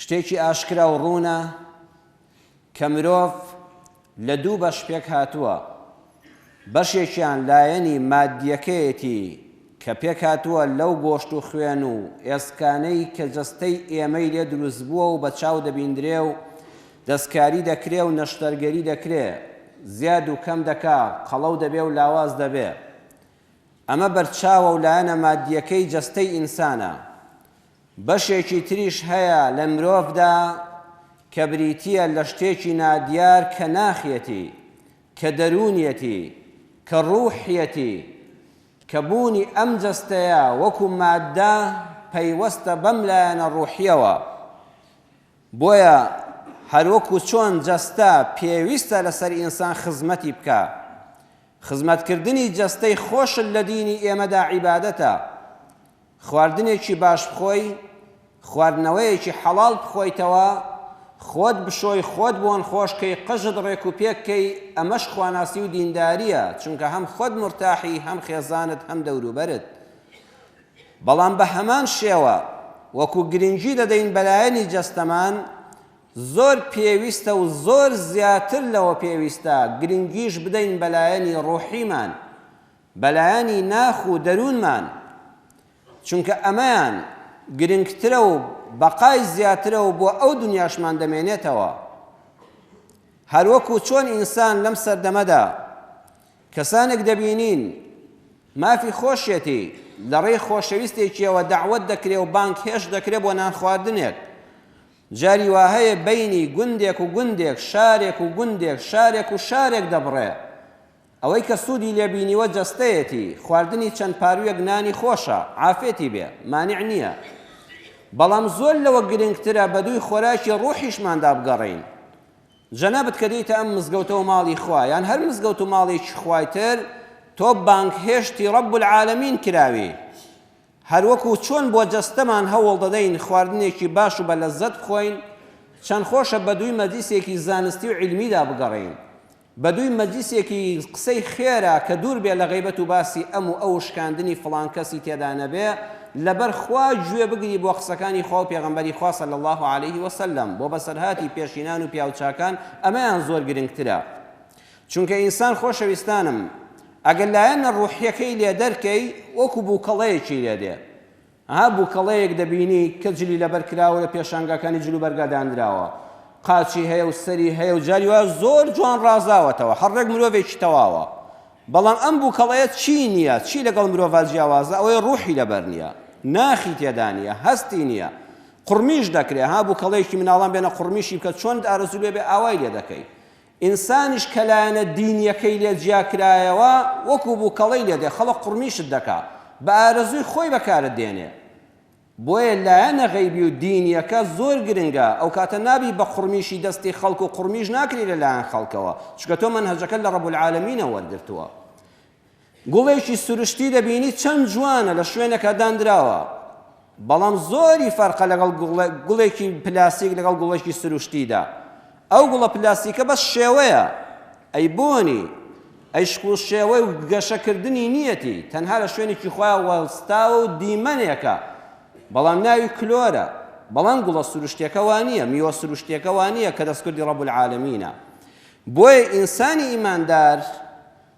شتێکی ئاشکرا و ڕوونە کە مرۆڤ لە دوو بەش پێکهاتووە، بەشێکیان لایەنی ماددیەکەیەتی کە پێکهاتووە لەو گۆشت و خوێن و ئێسکانەی کە جەستەی ئێمەی لێ دروستبووە و بە چاو دەبیندرێ و دەستکاری دەکرێ و نەشتەرگەری دەکرێ زیاد و کەم دەکا قەڵەو دەبێ و لاواز دەبێ ئەمە بەرچاوە و لایەنە ماددیەکەی جەستەی ئینسانە بەشێکی تریش هەیە لە مرۆڤدا کە بریتییە لە شتێکی نادیار کە ناخیەتی، کە دەروونیەتی، کە ڕووحیەتی، کە بوونی ئەم جەستەیە وەکو ماددە پەیوەستە بەم لایەنە ڕووحییەوە. بۆیە هەروەکو چۆن جەستە پێویستە لەسەر ئینسان خزمەتی بکا، خزمەتکردنی جەستەی خۆشت لە دینی ئێمەدا عیبادەتە، خواردنێکی باش بخۆی، خواردنەوەیەکی حەڵاڵ بخۆیتەوە، خۆت بشۆی، خۆت بۆن خۆش کەی، قژت ڕێک و پێک کەی، ئەمەش خواناسی و دیندارییە، چونکە هەم خۆت مورتاحی، هەم خێزانت، هەم دەوروبەرت. بەڵام بە هەمان شێوە وەکو گرنگی دەدەین بە لایەنی جەستەمان، زۆر پێویستە و زۆر زیاتر لەوە پێویستە گرنگیش بدەین بە لایەنی ڕوحیمان، بەلایەنی ناخ و دەروونمان، چونکە ئەمەیان گرنگترە و بەقای زیاترە و بۆ ئەو دونیاشمان دەمێنێتەوە. هەروەکو چۆن ئینسان لەم سەردەمەدا کەسانێک دەبینین مافی خۆشیەتی لەڕێی خۆشەویستێکیەوە دەعوەت دەکرێ و بانگهێشت دەکرێ بۆ نانخواردنێک، جاری واهەیە بەینی گوندێک و گوندێک، شارێک و گوندێک، شارێک و شارێک دەبڕێ. ئەوەی کە سودی لێ بینیوە جەستەیەتی خواردنی چەند پارویەک نانی خۆشە عافێتی بێ مانع نیە بەڵام زۆر لەوە گرنگترە بەدووی خۆراکی ڕوحیشماندا بگەڕێین جەنابت کە دێیتە ئەم مزگەوتەوە ماڵی خوا یان هەر مزگەوت و ماڵێکی خوای تر تۆ بانگهێشتی ڕەب العالمین کراوی هەروەکو چۆن بۆ جەستەمان هەوڵ دەدەین خواردنێکی باش و بە لەزەت بخۆین چەند خۆشە بەدووی مەجلیسێکی زانستی و علمیدا بگەڕێین بەدووی مەجلیسێکی قسەی خێرا کە دوور بێ لە غەیبەت و باسی ئەم و ئەو و شکاندنی فڵان کەسی تێدا نەبێ، لەبەر خوا گوێ بگری بۆ قسەکانی خوا و پێغەمبەری خوا صلی اللە علیە و سلم بۆ بەسەرهاتی پێشینان و پیاوچاکان ئەمەیان زۆر گرنگترە چونکە ئینسان خۆشەویستانم ئەگەر لایەنە ڕوحیەکەی لێ دەرکەی وەکو بوکەڵەیەکی لێ دێ ئەها بوکەڵەیەک دەبینی کە جلی لەبەر کراوە لە پێشانگاکانی جل و بەرگا دانراوە قاچی هەیە و سەری هەیە و جاری وایە زۆر جوان ڕازاوەتەوە هەر ڕێک مرۆڤێکی تەواوە بەڵام ئەم بوکەڵەیە چی نییە چی لەگەڵ مرۆڤا جیاوازە ئەوەی ڕوحی لەبەر نییە ناخی تێدا نییە هەستی نییە قڕمیش دەکرێ ها بوکەڵەیەکی مناڵان بێنە قڕمیشی بکە چۆن ئارەزوو لێ بێ ئاوای لێ دەکەی ئینسانیش کە لایەنە دینیەکەی لێ جیا کرایەوە وەکو بوکەڵەی لێ دێ خەڵک قوڕمیشت دەکا بە ئارەزووی خۆی بەکارت دێنێ بۆیە لایەنە غەیبی و دینیەکە زۆر گرنگە ئەوکاتە نابی بە قوڕمیشی دەستی خەڵک و قوڕمیش ناکری لە لایەن خەڵکەوە چونکە تۆ مەنهەجەکەت لە رب العالمینە وەرگرتووە گوڵێکی سروشتی دەبینی چەند جوانە لە شوێنەکە داندراوە بەڵام زۆری فەرقە لەگەڵ گوڵێکی پلاستیک لەگەڵ گوڵێکی سروشتیدا ئەو گوڵە پلاستیکە بەس شێوەیە ئەی بۆنی ئەی شکڵ شێوەی و گەشەکردنی نیەتی تەنها لە شوێنێکی خۆیان وەستاوە و دیمەنێکە بەڵام ناوی کلۆرە بەڵام گوڵە سروشتەکە وانە میوە سروشتەکە وانە کە دەستکردی ڕەب العالمینە بۆیە ئینسانی ئیماندار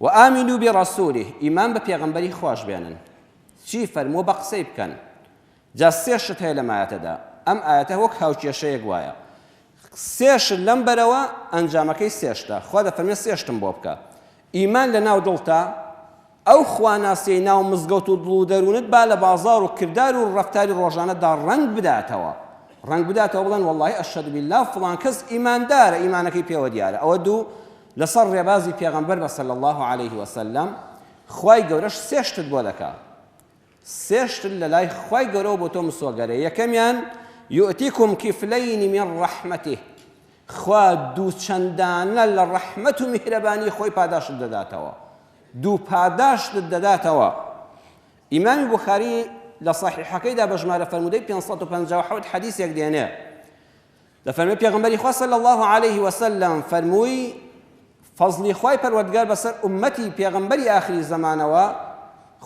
و آمنوا برسوله ئیمان بە پێغەمبەری خواش بێنن چی فەرمووە بە قسەی بکەن جا سێ شت هەیە لەم ئایەتەدا ئەم ئایەتە وەک هاوکێشەیەک وایە سێ شت لەم بەرەوە ئەنجامەکەی سێ شتە خوا دەفەرمێ سێ شتم بۆ بکە ئیمان لە ناو دڵتا ئەو خواناسیەی ناو مزگەوت و دڵ و دەروونت با لە بازار و کردار و ڕەفتاری ڕۆژانەدا ڕەنگ بداتەوە ڕەنگ بداتەوە بڵێن واللهی ئەشهد بالله فڵان کەس ئیماندارە ئیمانەکەی پێوە دیارە ئەوە دوو لەسەر ڕێبازی پێغەمبەر بە صلی اللە علیه وسلم خوای گەورەش سێ شتت بۆ دەکا سێ شتت لەلای خوای گەورەوە بۆ تۆ مسۆگەرێ یەکەمیان یؤتیکم کفلین من ڕەحمەتی خوا دوو چەندانە لە ڕەحمەت و میهرەبانی خۆی پاداشت دەداتەوە دوو پاداشت دەداتەوە ئیمامی بخاری لە صحیحەکەیدا بە ژمارە فەرموودەی 557 حەدیثێک دێنێ دەفەرمێ پێغمبەری خوا صلی الله علیه وسلم فەرمووی فەزلی خوای پەروەردگار بەسەر ئومەتی پێغمبەری ئاخری زەمانەوە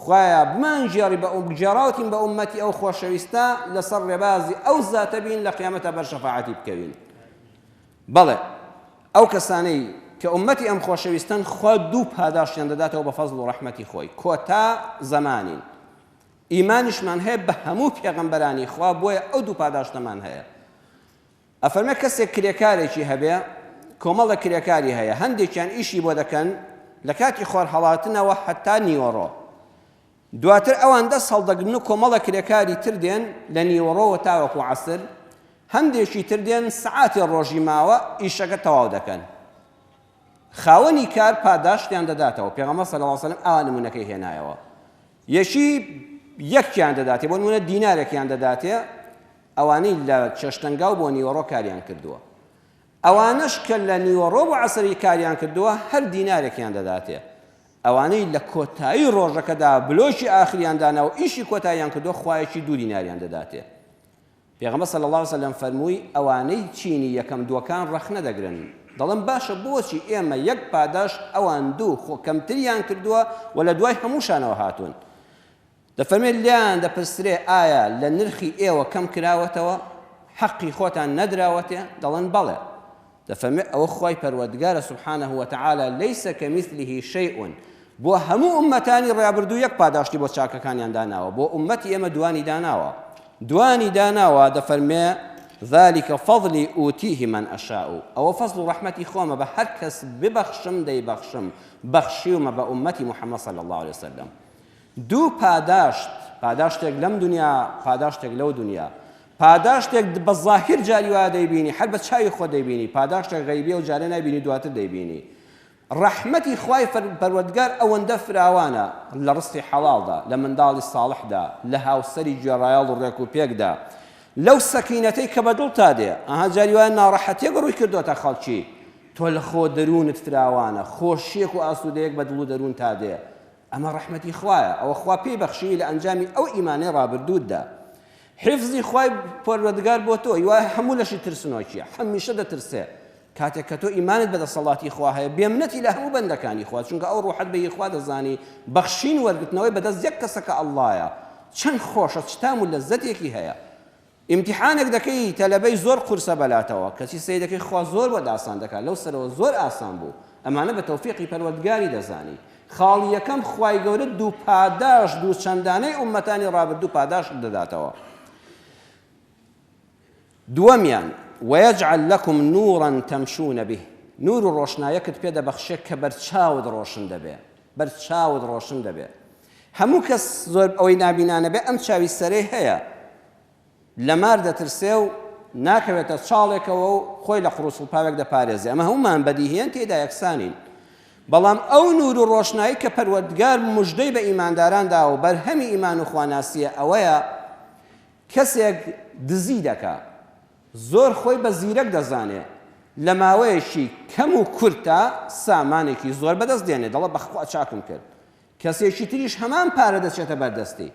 خوایە بمانگێڕی بە گێڕاوتین بە ئومەتی ئەو خۆشەویستە لەسەر ڕێبازی ئەو زاتە بین لە قیامەتە بەر شەفاعەتی بکەوین بەڵێ ئەو کەسانەی کە ئومەتی ئەم خۆشەویستن خوا دوو پاداشتیان دەداتەوە بە فەزل و ڕەحمەتی خۆی کۆتا زەمانین ئیمانیشمان هەیە بە هەموو پێغەمبەرانی خوا بۆیە ئەو دوو پاداشتەمان هەیە ئەفەرمێ کەسێک کرێکارێکی هەبێ کۆمەڵە کرێکاری هەیە هەندێکیان ئیشی بۆ دەکەن لە کاتی خۆر هەڵاتنەوە حتا نیوەڕۆ دواتر ئەوان دەست هەڵدەگرن و کۆمەڵە کرێکاری تر دێن لە نیوەڕۆوە تاوەکو عسر هەندێکی تر دێن سعاتی ڕۆژی ماوە ئیشەکە تەواو دەکەن خاوەنی کار پاداشتیان دەداتەوە پێغەمە سەلاسەلم ئانمونونەکەی هێنایەوە یەکی یەکیان دەداتێ، بۆ نموونە دینارێکیان دەداتێ، ئەوانەی لە چێشتەنگاو بۆ نیوەڕۆ کاریان کردووە، ئەوانەش کە لە نیوەڕۆ بۆ عەسری کاریان کردووە هەر دینارێکیان دەداتێ، ئەوانەی لە کۆتایی ڕۆژەکەدا بلۆکی ئاخریان داناوە و ئیشی کۆتاییان کردووە خوایەکی دوو دیناریان دەداتێ. پێغەمبەر صلی اللە علیە وسلم فەرمووی، ئەوانەی چینی یەکەم دووەکان ڕەخنە دەگرن، دەڵێن، باشە بۆچی ئێمە یەک پاداشت ئەوان دوو خۆ کەمتریان کردووە و لە دوای هەمووشانەوە هاتوون؟ دەفەرمێت، لێیان دەپرسرێ، ئایا لە نرخی ئێوە کەم کراوەتەوە؟ حەقی خۆتان نەدراوەتێ؟ دەڵێن، بەڵێ. دەفەرموێ ئەوە خوای پەروەردگارە سبحانە وتعالی لیس کمثله شیء بۆ هەموو ئوممەتانی ڕابردوو یەک پاداشتی بۆ چاکەکانیان داناوە بۆ ئوممەتی ئێمە دوانی داناوە دوانی داناوە دەفەرمێ ذلك فضلی ئوتیه من ئەشاء ئەوە فەزل و ڕەحمەتی خۆمە بە هەر کەس ببەخشم دەیبەخشم بەخشیومە بە ئوممەتی محەممەد صلی الله عليه وسلم دوو پاداشت، پاداشتێک لەم دونیا، پاداشتێک لەو دونیا. پاداشتێک د بە زاهیر جاری وا دەیبینی، هەر بە چاوی خۆت دەیبینی، پاداشتێک غەیبییە و جارێ نایبینی دواتر دەیبینی. ڕەحمەتی خوای فر پەروەردگار ئەوەندە فراوانە، لە ڕزقی حەڵاڵدا، لە منداڵی ساڵحدا، لە هاوسەری گوێڕایەڵ و ڕێک و پێکدا، لەو سەکینەتەی کە بە دڵتا دێ. ئەها جاری وایە ناڕەحەتییەک ڕووی کردۆتە خەڵکی، تۆ لە خۆ دەروونت فراوانە، خۆشییەک و ئاسوودەیەک بە دڵ و دەروونتا دێ، ئەمە ڕەحمەتی خوایە ئەوە خوا پێی بەخشیوی لە ئەنجامی ئەو ئیمانەی ڕابردووتدا حیفزی خوای پەروەردگار بۆ تۆ یوا هەموو لەشی ترسنۆکیە هەمیشە دەترسێ کاتێک کە تۆ ئیمانت بە دەسەڵاتی خوا هەیە بێمنەتی لە هەموو بەندەکانی خوا چونکە ئەو ڕوحەت بە یخوا دەزانی بەخشین وەرگتنەوەی بەدەست یەک کەسەکە ئەڵڵایە چەند خۆشە چ تام و لەزەتێکی هەیە ئیمتیحانێک دەکەی تەلەبەی زۆر قورسە بەلاتەوە کەچی سەیرەکەی خوا زۆر بۆت ئاسان دەکات لەو سەرەوە زۆر ئاسان بوو ئەمانە بە تەوفیقی پەروەردگاری دەزانی خاڵی یەکەم خوای گەورە دوو پاداش دوو چەندانەی ئومەتانی ڕابردوو پاداشت دەداتەوە دووەمیان وەیەجعل لەکم نورا تەمشون به نور و ڕۆشنایەکت پێ دەبەخشێ کە بەرچاوت ڕۆشن دەبێ بەرچاوت ڕۆشن دەبێ هەموو کەس زۆر ئەوەی نابینانە بێ ئەم چاوی سەرەی هەیە لە مار دەترسێ و ناکەوێتە چاڵێکەوە و خۆی لە قڕوسڵپاوێک دەپارێزێ ئەمە هەموومان بەدیهێن تێدا یەکسانین بەڵام ئەو نور و ڕۆشنایی کە پەروەردگار مژدەی بە ئیمانداران داوە و بەرهەمی ئیمان و خواناسیە ئەوەیە کەسێک دزی دەکا زۆر خۆی بە زیرەک دەزانێ لە ماوەیەکی کەم و کورتا سامانێکی زۆر بەدەست دێنێ دەڵە بەخوا چاکم کرد کەسێکی تریش هەمان پارە دەچێتە بەردەستی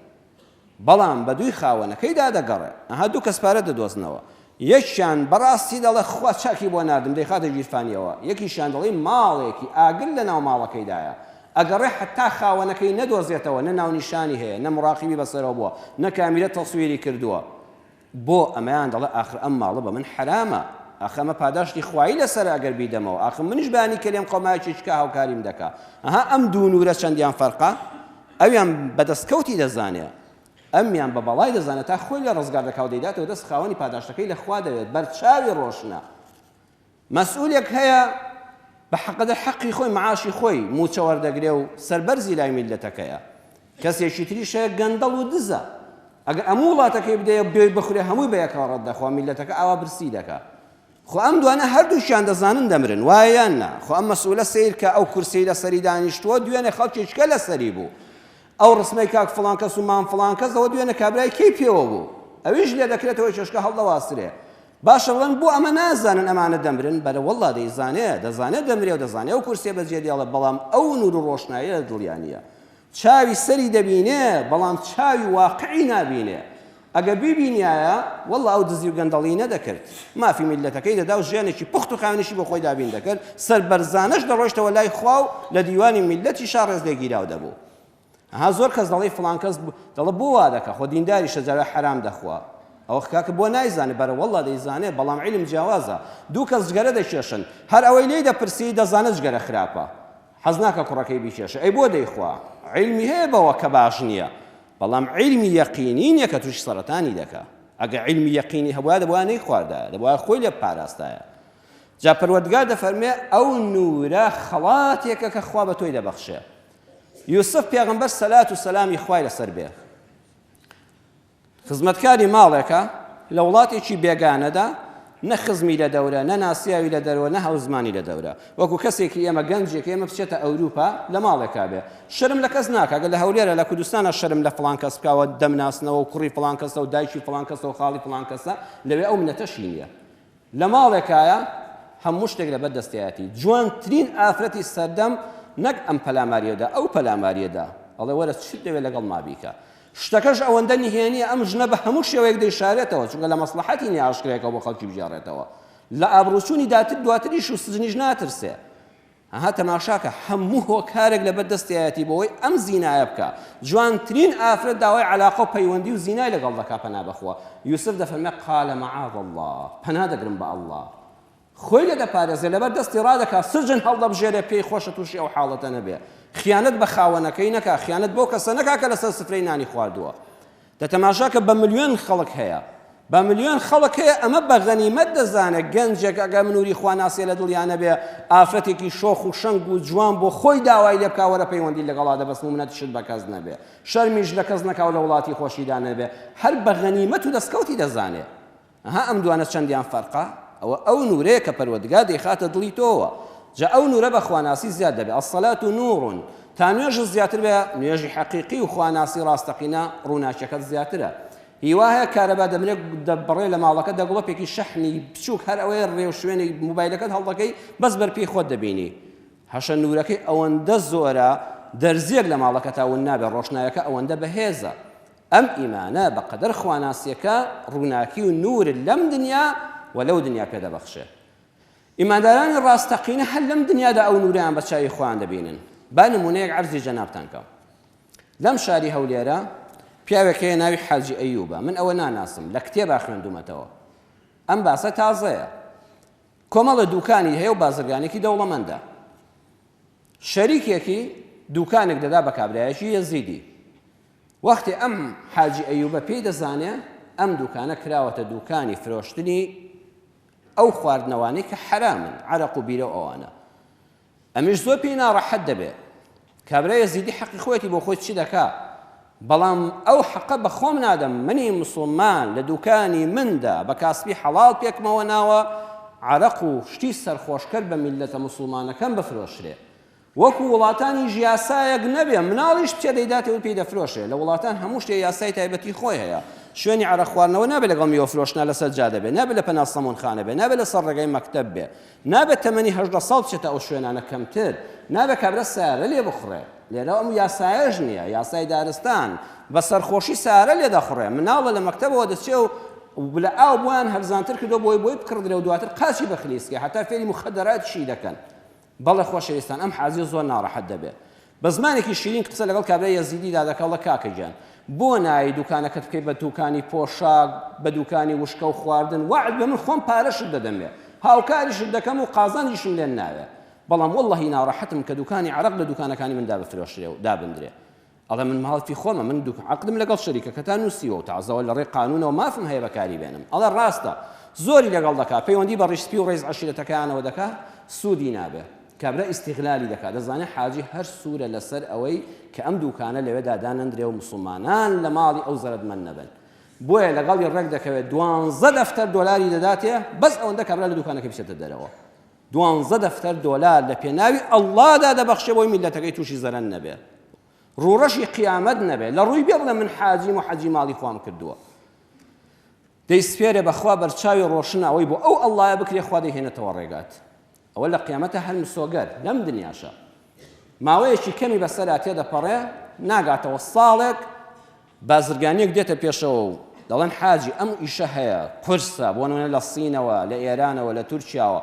بەڵام بە دووی خاوەنەکەیدا دەگەڕێ ئەها دوو کەس پارە دەدۆزنەوە یەکیان بەڕاستی دەڵێ خوا چاکی بۆ ناردم دەیخاتە ژیرفانیەوە یەکیشیان دەڵی ماڵێکی ئاگر لە ناو ماڵەکەیدایە ئەگەڕێ حەتا خاوەنەکەی نەدۆزێتەوە نە ناونیشانی هەیە نە مڕاقیبی بەسەرەوە بووە نە کامیرە تەسویری کردووە بۆ ئەمەیان دەڵێ ئاخر ئەم ماڵە بە من حەرامە ئاخ ئەمە پاداشتی خوایی لەسەرە ئەگەر بیدەمەوە ئاخ منیش بانی کەلێم قەومایەکی چکا هاوکاریم دەکا ئەها ئەم دوو نورە چەندیان فەرقە ئەویان بە دەستکەوتی دەزانێ ئەمیان بە بەڵای دەزانێت تا خۆی لە ڕزگار دەکاو دەیداتەوە دەست خاوەنی پاداشتەکەی لە خوا دەوێت بەرچاوی ڕۆشنە مەسئولێک هەیە بە حەقەدەر حەقی خۆی معاشی خۆی موچە وەردەگرێ و سەربەرزی لای میللەتەکەیە کەسێکی تریش هەیە گەندەڵ و دزە ئەگەر ئەموو وڵاتەکەی بدەیە و بێی بخورێ هەمووی بەیەکەوە ڕەت دەخوا میللەتەکە ئاوا برسی دەکا خۆ ئەم دوانە هەردووکیان دەزانن دەمرن وایە یان نا خۆ ئەم مەسئولە سەیرکە ئەو کورسیی لەسەری دانیشتووە دوێنێ خەڵکێکە لەسەری بوو ئەو ڕسمەی کاک فڵان کەس و مام فڵان کەس ئەوە دوێنێ کابرای کەی پێوە بوو ئەویش لێ دەکرێتەوە چێشکە هەڵدەواسرێ باشە بڵێن بۆ ئەمە نازانن ئەمانە دەمرن بەلە واللە دەیزانێ دەزانێ دەمرێ و دەزانێ ئەو کورسیە بەجێ دێڵە بەڵام ئەو نور و ڕۆشنایە لە دڵیا نیە چاوی سەری دەبینێ بەڵام چاوی واقعی نابینێ ئەگە بیبینایە واللە ئەو دزی و گەندەڵی نەدەکرد مافی میلەتەکەی دەدا و ژیانێکی پوخت و خاوێنیشی بۆ خۆی دابین دەکرد سەربەرزانەش دەڕۆیشتەوە لای خوا و لە دیوانی میلەتیشا ڕێز لێگیراو دەبوو ئەها زۆر کەس دەڵێ فڵان کەس دەڵێ بۆ وا دەکە خۆ دینداریشە جاوێ حەرام دەخوا ئەوە کاکە بۆ نایزانێ بەرە وەڵا دەیزانێ بەڵام علم جیاوازە دوو کەس جگەرە دەکێشن هەر ئەوەی لێی دەپرسی دەزانە جگەرە خراپە حەز ناکە کوڕەکەی بیکێشە ئەی بۆ دەیخوا علمی هەیە بەوە کە باش نییە بەڵام علمی یەقینی نییە کە تووشی سەرەتانی دەکا ئەگە علمی یەقینی هەبووە دەبووە نەیخواردا دەبووە خۆی لێ پاراستایە جا پەروەردگار دەفەرمێ ئەو نورە خەڵاتێکە کە خوا بە تۆی دەبەخشێ یوسف پێغەمبەر سەلات و سەلامی خوای لەسەر بێ خزمەتکاری ماڵێکە لە وڵاتێکی بێگانەدا نە خزمی لە دەورە نە ناسیاوی لە دەرەوە نە هەوزمانی لە دەورە وەکو کەسێکی ئێمە گەنجێک ئێمە بچێتە ئەوروپا لە ماڵێکا بێ شرم لە کەس ناکەگە لە هەولێرە لە کوردستانە شرم لە فلان کەس بکەوە دەمناسنەوە و کوڕی فلان کەسە و دایکی فلان کەسە و خاڵی فلان کەسە لەوێ ئەو منەتەشی نیە لە ماڵێکایە هەموو شتێک لە بەر دەستیایەتی جوانترین ئافرەتی سەردەم نەک ئەم پەلاماریەدا ئەو پەلاماریەدا ئەڵێ وەرە چیت دەوێت لەگەڵ ما بیکە شتەکەش ئەوەندە نهێنیە ئەم ژنە بە هەموو شێوەیەک دەیشارێتەوە چونکە لە مەسلحەتی نیە ئاشکرایەکە بۆ خەڵکی بگێڕێتەوە لە ئابڕوچوونی داتر دواتریش و سجنیش ناترسێ ئەها تەماشاکە هەموو هۆکارێک لەبەر دەستیایەتی بۆوەی ئەم زینایە بکا جوانترین ئافرەت داوای عەلاقە و پەیوەندی و زینای لەگەڵ دەکا پەنا بەخوا یوسف دەفەرمێ قال معاذ اللە پەنا دەگرم بە اللە خۆی لێ دەپارێزێ لەبەر دەستی ڕادەکا سرجن هەڵدەبژێرێ پێی خۆشە تووشی ئەو حاڵەتە نەبێ خیانەت بە خاوەنەکەی نەکا خیانەت بەو کەسە نەکا کە لەسەر سفرەی نانی خواردووە دە تەماشا کە بە ملیۆن خەڵک هەیە بە ملیۆن خەڵک هەیە ئەمە بە غەنیمەت دەزانێت گەنجێک ئەگەر منوری خوا ناسێ لە دڵیا نەبێ ئافرەتێکی شۆخ و شەنگ و جوان بۆ خۆی داوای لێ بکا وەرە پەیوەندی لەگەڵا دەبەست و منەت شت بە کەس نەبێ شەرمیش لە کەس نەکا و لە وڵاتی خۆشیدا نەبێ هەر بە غەنیمەت و دەسکەوتی دەزانێ. ئەها ئەم دوانە چەندیان فەرقە، ئەوە ئەو نورەیە کە پەروەردگار دەیخاتە دڵی تۆوە، جا ئەو نورە بە خواناسی زیاد دەبێت، الصلاة نور، تا نوێژت زیاتر بێ، نوێژی حەقیقی و خواناسی ڕاستەقینە، ڕووناکیەکەت زیاترە. هیوا هەیە کارەبا دەمرێ دەبڕێ لە ماڵەکەت دا گڵۆپێکی شەحنی بچووک هەر ئەوەیە ڕێو شوێنی موبایلەکەت هەڵدەکەی بەس بەر پێی خۆت دەبینی هەشە نورەکەی ئەوەندە زۆرە دەرزیەک لە ماڵەکەتا ون نابێ ڕۆشنایەکە ئەوەندە بەهێزە ئەم ئیمانە بە قەدەر خواناسیەکە ڕووناکی و نوور لەم دنیا و لەو دنیا پێ دەبەخشێ. ئیماندارانی ڕاستەقینە هەر لەم دنیادا ئەو نوورەیان بە چاوی خۆیان دەبینن. با نموونەیەک عەرزی جەنابتان کەم. لەم شاری هەولێرە پیاوێک هەیە ناوی حاجی ئەیوبە. من ئەوە ناناسم. لە کتێبا خوێندومەتەوە. ئەم باسە تازەیە. کۆمەڵە دووکانی هەیە و بازرگانێکی دەوڵەمەندە. شەریکێکی دووکانێک دەدا بە کابرایەکی یەزیدی. وەختی ئەم حاجی ئەیوبە پێی دەزانێ ئەم دوکانە کراوەتە دوکانی فرۆشتنی ئەو خواردنەوانەی کە حەرامن عەرەق و بیرەو ئەوانە ئەمیش زۆر پێی ناڕەحەت دەبێ کابرای یەزیدی حەقی خۆیەتی بۆ خۆی چی دەکا بەڵام ئەو حەقە بە خۆم نادەم منی مسوڵمان لە دوکانی مندا بە کاسپی حەڵاڵ پێکمەوە ناوە عەرەق و شتی سەرخۆشکەر بە میللەتە مسوڵمانەکەم بفرۆشرێ وەکو وڵاتانیش یاسایەک نەبێ مناڵیشت پێ دەیداتێ و پێی دەفرۆشێ، لە وڵاتان هەموو شتێ یاسای تایبەتی خۆی هەیە، شوێنی عەرەق خواردنەوە نابێ لەگەڵ میوە فرۆشنا لەسەر جادە بێ، نابێ لە پەنا سەموونخانە بێ، نابێ لەسەر ڕێگای مەکتەب بێ، نابێ تەمەنی هەژدە ساڵ بچێتە ئەو شوێنانە کەمتر نابێ کابرا سەیارە لێ بخوڕێ، لێرە ئەم یاسایەش نییە، یاسای دارستان بە سەرخۆشی سەیارە لێ دەخوڕێ، مناڵە لە مەکتەبەوە دەچێ و لە ئاو بۆیان هەرزانتر کردووە بۆی بۆی بکڕدرێ و دواتر قاچی بخلیسکێ، هەتا فێری موخەدەراتیشی دەکەن. بەڵێ خۆشەویستان ئەم حاجیە زۆر ناڕەحەت دەبێت بە زمانێکی شیرین قسە لەگەڵ کابرای یەزیدیدا دەکا ڵە کاکە گیان بۆ نایەی دوکانەکەت بکەی بە دوکانی پۆشاک بە دوکانی وشکە و خواردن وەعد بە من خۆم پارەشت دەدەمێ هاوکاریشت دەکەم و قازانجیشم لێ ناوێ بەڵام وەڵڵەهی ناڕەحەتم کە دوکانی عەرەق لە دوکانەکانی مندا بفرۆشرێ و دابندرێ ئەڵێ من ماڵکی خۆمە من دوک عقدم لەگەڵ شەریکە کە تا نووسیوە و تازەوە لە ڕێی قانونەوە مافم هەیە بەکاری بێنم ئەڵێ ڕاستە زۆری لەگەڵ دەکا پەیوەندی بە ڕیشسپی و ڕێز عشرەتەکەیانەوە دەکا سوودی نابێ کابرا ئیسیغلالی دەکات دەزانێت حاجی هەر سوورە لەسەر ئەوەی کە ئەم دووکانە لەوێدا دانەندرێ و مسلمانان لە ماڵی ئەو زەرەدمەند نەبن بۆیە لەگەڵی ڕێک دەکەوێت دوانزە دەفتەر دۆلاری دەداتێ بەس ئەوەندە کابرا لە دووکانەکە بچێتە دەرەوە دوانزە دەفتەر دۆلار لە پێناوی اللە دا دەبەخشێ بۆی میللەتەکەی توشی زەرەن نەبێ ڕوڕەشی قیامەت نەبێ لە ڕوی بێ بڵێ من حاجیم و حەجی ماڵی خوام کردووە دەی سپێرێ بەخوا بەرچاوی ڕۆشن ئەوەی بۆ ئەو اللە بکرێ خوا دەیهێنێتەوە ڕێگات ئەوە لە قیامەتە هەر مسۆگەر لەم دنیاشە ماوەیەکی کەمی بەسەرا تێدەپەڕێ ناگاتەوە ساڵێک بازرگانێک دێتە پێشەوە و دەڵێن حاجی ئەم ئیشە هەیە، قورسە، بۆ نموونە لە سینەوە، لە ئێرانەوە، لە تورکیاوە،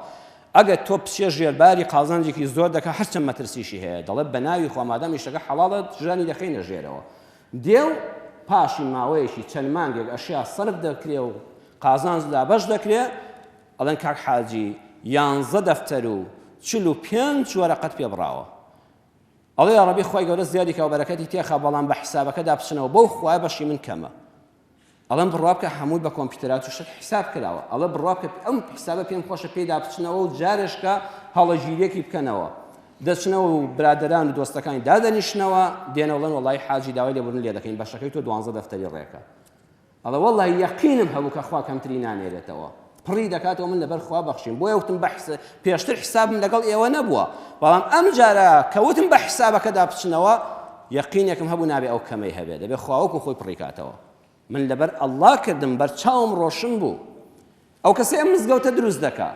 ئەگەر تۆ بچیە ژێر باری قازانجێکی زۆر دەکا، هەرچەند مەترسیشی هەیە، دەڵێت بە ناوی خوا مادام ئیشەکە حەڵاڵە ژانی دەخەینە ژێرەوە، دێ و پاشی ماوەیەکی چەند مانگێک ئەشیا سەرف دەکرێ و قازانج دابەش دەکرێ، ئەڵێن کاک حاجی یانزە دەفتەر و چل و پێنج وەرەقەت پێ بڕاوە، ئەڵێ یاڕەبی خوای گەورە زیادی کە و بەرەکەتی تێخا بەڵام بە حیسابەکەدا بچنەوە بەو خوایە بەشی من کەمە ئەڵم بڕوا بکە هەمووی بە کۆمپیوترات و شت حیساب کراوە ئەڵە بڕوا بکە ئەم حیسابە پێم خۆشە پێدا بچنەوە و جارێشکە هەڵەگیریەکی بکەنەوە دەچنەوە و برادران و دۆستەکانی دادەنیشتنەوە دێنەوەڵەن وڵی حاجی داوای لێبوون لێ دەکەین بەشەکەی تۆ دوانزە دەفتەری ڕێکە ئەڵێ وەڵا یەقینم هەبوو کە خوا کەمتری نانێرێتەوە پڕی دەکاتەوە من لەبەر خوا بەخشیم بۆیە وتم بە حساب پێشتر حسابم لەگەڵ ئێوە نەبووە بەڵام ئەم جارە کە وتم بە حسابەکەدا بچنەوە یەقینێکم هەبوو نابێ ئەو کەمەی هەبێ دەبێ خواوەکو خۆی پڕیکاتەوە من لەبەر ئەڵڵا کردم بەر چاوم ڕۆشن بوو ئەو کەسەی ئەم مزگەوتە دروست دەکا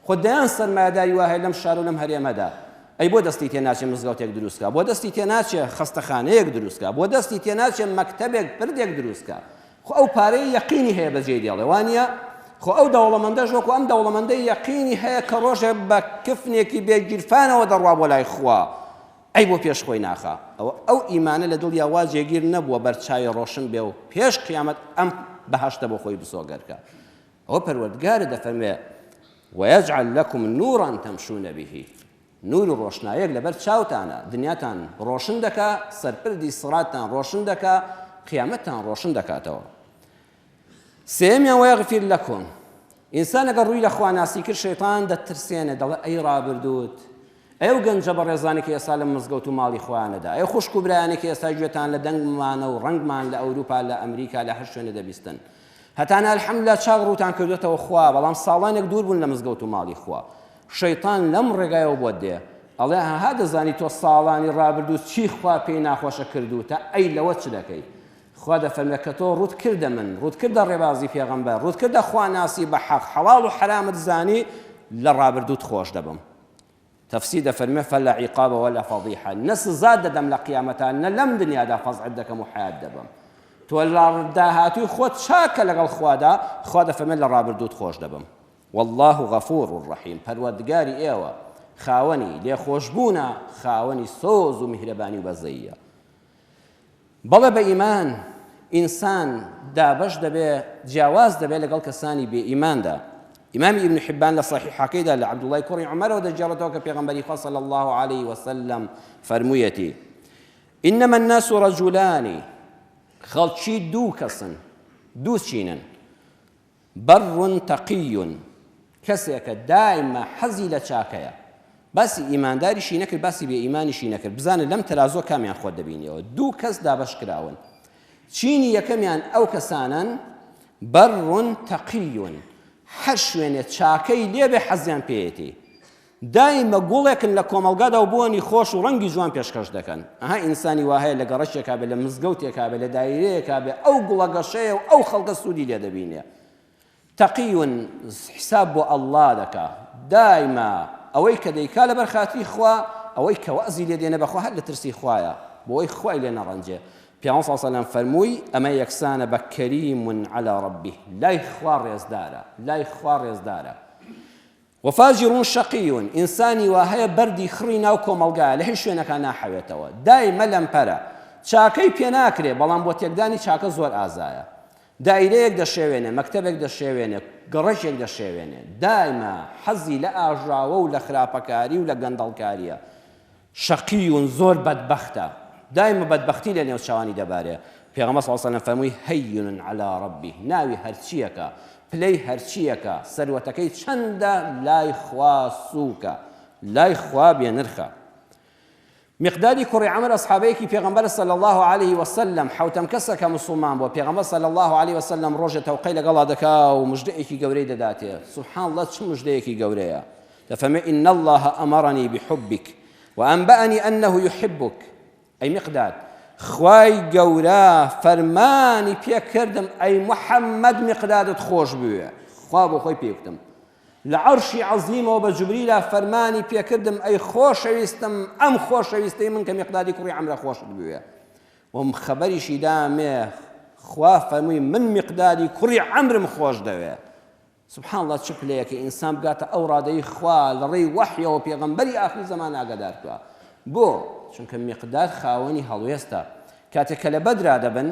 خۆ دەیان سەرمایەداری واهەیە لەم شارو لەم هەرێمەدا ئەی بۆ دەستی تێ ناچێ مزگەوتێک دروست کا بۆ دەستی تێ ناچێ خەستەخانەیەک دروست کا بۆ دەستی تێ ناچێ مەکتەبێک پردێک دروست کا خۆ ئەو پارەی یەقینی هەیە بەجێی دێڵێ وانە خۆ ئەو دەوڵەمەندەش وەکو ئەم دەوڵەمەندەی یەقینی هەیە کە ڕۆژێ بە کفنێکی بێ گیرفانەوە دەڕوا بۆ لای خوا ئەی بۆ پێش خۆی ناخا؟ ئەوە ئەو ئیمانە لە دڵیا وا جێگیر نەبووە بەرچاوی ڕۆشن بێ و پێش قیامەت ئەم بەهەشتە بۆ خۆی بسۆگەر کا. ئەوە پەروەردگارت دەفەرموێ، ویجعل لکم نورا تمشون به، نور و ڕۆشنایەک لەبەر چاوتانا، دنیاتان ڕۆشن دەکا، سەرپردی سڕاتتان ڕۆشن دەکا، قیامەتتان ڕۆشن دەکاتەوە. سێیەمیان وەیەغفیر لەکم ئینسان ئەگەر ڕووی لە خواناسی کرد شەیتان دەترسێنێ دەڵێ ئەی ڕابردووت ئەی و گەنجە بەڕێزانی کە ئێستا لە مزگەوت و ماڵی خۆیانەدا ئەی خوشک و برایانی کە ئێستا گوێتان لە دەنگمانە و ڕەنگمان لە ئەوروپا لە ئەمریکا لە هەر شوێنە دەبیستن هەتانە الحمدلله چاک ڕووتان کردوێتەوە خوا بەڵام ساڵانێک دوور بوون لە مزگەوت و ماڵی خوا شەیتان لەم ڕێگایەوە بۆت دێ ئەڵێ هەها دەزانی تۆ ساڵانی ڕابردوو چی خوا پێی ناخۆشە کردوتە ئەی لەوە چ دەکەی خوا دەفەرمێ کە تۆ ڕووت کردە من، ڕووت کردە ڕێبازی پێغەمبەر، ڕووت کردە خوا ناسی بە حەق، حەڵاڵ و حەرامت زانی، لە ڕابردووت خۆش دەبم. تەفسیر دەفەرمێ فلا عقاب ولا فضیحە، نە سزات دەدەم لە قیامەتا، نە لەم دنیادا فەزعت دەکەم و حەیات دەبەم. تۆ لە داهاتووی خۆت چاکە لەگەڵ خوادا، خوا دەفەرمێ لە ڕابردووت خۆش دەبم. واللە غفور رحیم، پەروەردگاری ئێوە خاوەنی لێخۆشبوونە، خاوەنی سۆز و میهرەبانی و بەزەییە. بەڵێ بە ئیمان ئینسان دابەش دەبێ جیاواز دەبێ لەگەڵ کەسانی بێ ئیماندا ئیمامی ابن حبان لە صحیحەکەیدا لە عبدوڵای کوڕی عمەرەوە دەگێڕێتەوە کە پێغەمبەری خوا صلی الله عليه وسلم فەرموویەتی إنما الناس رجلان خەڵکی دوو کەسن دوو چینن بەر تەقی کەسێکە دایمە حەزی لە چاکەیە باسی ئیمانداریشی نەکرد باسی بێ ئیمانیشی نەکرد بزانە لەم تەرازۆ کامیان خۆت دەبینیەوە دوو کەس دابش کراون چینی یەکەمیان ئەو کەسانن بەر تەقیون هەر شوێنێ چاکەی لێبێ حەزیان پێێتی دایمە گوڵێکن لە کۆمەڵگادا و بۆنی خۆش و ڕەنگی جوان پێشکەش دەکەن. ئەها ئینسانی وا هەیە لە گەڕەکێکا بێ، لە مزگەوتێکا بێ، لە دایرەیەکا بێ، ئەو گوڵە گەشەیە و ئەو خەڵکە سوودی لێ دەبینێ. تەقی و حیساب بۆ ئەڵڵا دەکا. دایمە ئەوەی کە دەیکا لەبەر خاتری خوا، ئەوەی کە وەعزی لێ دێنێ بە خوا هەر لە ترسی خوایە، بۆ ئەوەی خوای لێ نەڕەنجێ. پیامبەر صلی اللە علیە و سلم فەرمووی، ئەمە یەکسانە بە کەریم علی ربه، لای خوا ڕێزدارە، لای خوا ڕێزدارە. وفاجر شقی، ئینسانی وا هەیە بەردی خڕی ناو کۆمەڵگایە لە هیچ شوێنەکا ناحەوێتەوە، دایمە لەمپەرە چاکەی پێ ناکرێ، بەڵام بۆ تێکدانی چاکە زۆر ئازایە. دایرەیەک دەشێوێنێ، مەکتەبێک دەشێوێنێ، گەڕەکێک دەشێوێنێ. دایمە حەزی لە ئاژاوە و لە خراپەکاری و لە گەندەڵکارییە. شەقیون زۆر بەدبەختە دایمە بەدبەختی لە نێو چاوانی دەبارێ پێغەمبەر صلی اللە علیە وسلم فەرمووی هەین علی ربی ناوی هەرچییەکە پلەی هەرچییەکە سەروەتەکەی چەندە لای خوا سووکە لای خوا بێ نرخە مقدادی کوڕی عەمر ئەسحابەیەکی پێغەمبەر صلی الله علیه وسلم حوتەم کەسە کە مسلمان بۆ پێغەمبەر صلی الله علیه وسلم ڕۆژێ تەوقەی لەگەڵا دەکا و مژدەیەکی گەورەی دەداتێ سبحان الله چ مژدەیەکی گەورەیە دەفەرمێ ان اللە امرنی بحبک وانبانی انه یحبک ئەی میقداد خوای گەورە فەرمانی پێکردم ئەی محەممەد میقدادت خۆش بوێ خوا بۆ خۆی پێکتم لە عەرشی عەزیمەوە بە جوبریلا فەرمانی پێکردم ئەی خۆشەویستم ئەم خۆشەویستەی من کە میقدادی کوڕی ئەمرە خۆشت بوێ وم خەبەریشی دامێ خوا فەرمووی من میقدادی کوڕی ئەمرم خۆش دەوێ سبحان اللە چ پلەیەکە ئینسان بگاتە ئەو ڕادەی خوا لەڕێی وەحیەوە پێغەمبەری ئاخری زەمان ئاگادار بکا بۆ؟ چونکە میقداد خاوەنی هەڵوێستە کاتێک کە لە بەدرا دەبن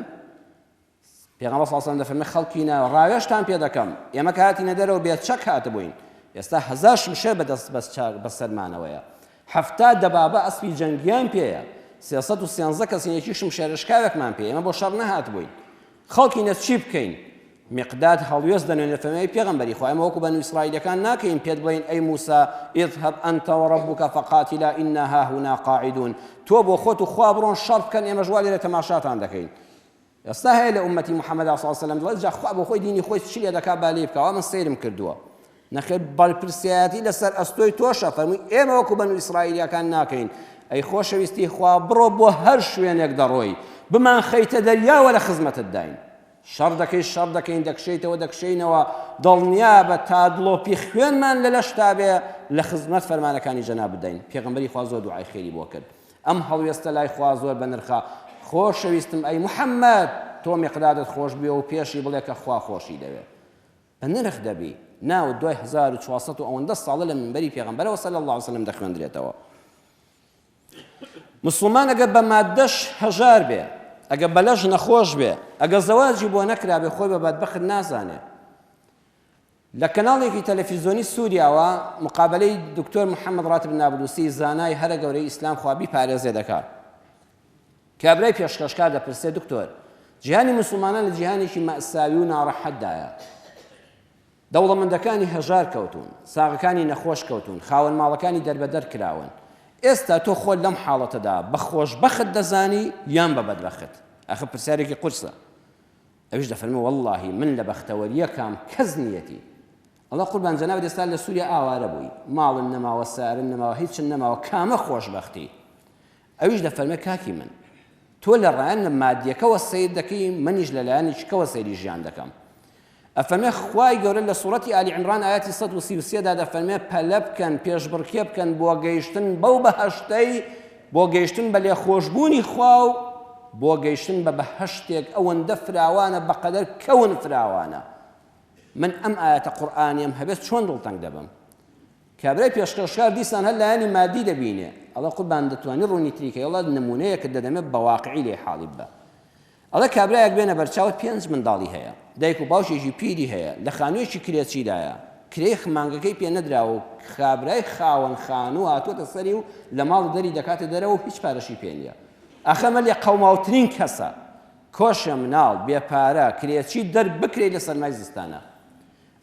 پێغەمبەر صلی الله دەفەرمێ خەڵکینە ڕاوێشتان پێ دەکەم ئێمە کە هاتینە دەرەوە بێ چەک هاتبووین ئێستا هەزار شمشێر بەدەست بەس چاک بەسەرمانەوەیە حەفتا دەبابە ئەسپی جەنگیان پێیە سێسەد و سێنزە کەسینێکی شمشێرشکاوێکمان پێ ئێمە بۆ شەڕ نەهات بووین خەڵکینە چی بکەین میقداد هەڵوێست دەنوێنێت لە فەرمانی پێغەمبەری خوا، ئێمە وەکو بەنو ئیسرائیلەکان ناکەین پێت بڵێین ئەی موسا اذهب انت وربک فقاتلا انا هاهنا قاعدون تۆ بۆ خۆت و خوا بڕۆن شەڕ بکەن ئێمەش وا لێرە تەماشاتان دەکەین ئێستا هەیە لە ئومەتی محەممەدا صلی الله علیه وسلم دڵێت جا خوا بۆ خۆی دینی خۆی چی لێ دەکا با لێ بکەوە من سەیرم کردووە نەخێر بەرپرسیایەتی لەسەر ئەستۆی تۆشە فەرمووی ئێمە وەکو بەن و ئیسرائیلەکان ناکەین ئەی خۆشەویستی خوا بڕۆ بۆ هەر شوێنێک دەڕۆی بمان خەیتە دەریاوە لە خزمەتت داین شەڕ دەکەین شەڕ دەکەین دەکشێیتەوە دەکشێینەوە دڵنیابە تا دڵۆپی خوێنمان لە لەشتا بێ لە خزمەت فەرمانەکانی جەنابتداین پێغەمبەری خوا زۆر دوعای خێری بۆ کرد ئەم هەڵوێستە لای خوا زۆر بەنرخە خۆشەویستم ئەی محەممەد تۆ مقدادت خۆش بێ و پێشی بڵێ کە خوا خۆشی دەوێ بە نرخ دەبی ناو دوای 1400 ئەوەندە ساڵە لە منبەری پێغەمبەرەوە سەل الله وسلم دەخوێندرێتەوە موسڵمان ئەگەر بە ماددەش هەژار بێ، ئەگەر بە لەش نەخۆش بێ، ئەگەر زەواجی بۆ نەکرابێ خۆی بە بەدبەخت نازانێ. لە کەناڵێکی تەلەفیزۆنی سوریاوە مقابەلەی دکتۆر محەمەد راتب نابلوسی زانای هەرە گەورەی ئیسلام خوا بیپارێزێ دەکا. کابرای پێشکەشکار دەپرسێ دکتۆر جیهانی موسڵمانان لە جیهانێکی مەئساوی و ناڕەحەتدایە. دەوڵەمەندەکانی هەژار کەوتوون، ساغەکانی نەخۆش کەوتوون، خاوەن ماڵەکانی دەربەدەر کراون. ئێستا تۆ خۆت لەم حاڵەتەدا بە خۆشبەخت دەزانی یان بە بەدبەخت؟ ئاخر پرسیارێکی قورسە. ئەویش دەفەرموێ، وەڵڵاهی من لە بەختەوەرییەکام کەس نییەتی. ئەڵێ، قوربان جەنابت ئێستا لە سووریا ئاوارە بووی، ماڵن نەماوە، سارن نەماوە، هیچن نەماوە، کامە خۆشبەختی؟ ئەویش دەفەرمێ کاکی من تۆ لە ڕایەن مادیەکەوە سەیر دەکەی منیش لە لایەنی چکەوە سەیری ژیان دەکەم ئەفەرمێ خوای گەورە لە سوڕەتی ئالی عمران ئاەتی 1930 دا دەفەرمێ پەلە بکەن پێشبڕکێ بکەن بۆ گەیشتن بەو بەهشتەی بۆ گەیشتن بە لێ خۆشببوونی خوا و بۆ گەیشتن بە بەهشتێک ئەوەندە فراوانە بەقەدەر کەون فراوانە من ئەم ئاەتە قورآانیم هەبێت چۆن دڵتەنگ دەبم کابرای پێشکەشکار دیسان هەر لایەنی مادی دەبینێ ئەڵێ قوربان دەتوانی ڕوونی تری کەی ئەڵێ نموونەیەکت دەدەمێ بە واقعی لێی حاڵی ببە ئەڵێ کابرایەک بێنە بەرچاوت پێنج منداڵی هەیە دایک و باوکێکی پیری هەیە لە خانوویەکی کرێچیدایە کرێی مانگەکەی پێ نەدراوە و کابرای خاوەن خانوو هاتووەتە سەری و لە ماڵ دەری دەکاتە دەرەوە و هیچ پارەشی پێ نییە ئەخە مە لێ قەوماوترین کەسە کۆشە مناڵ بێ پارە کرێچی دەر بکرێی لە سەرمای زستانە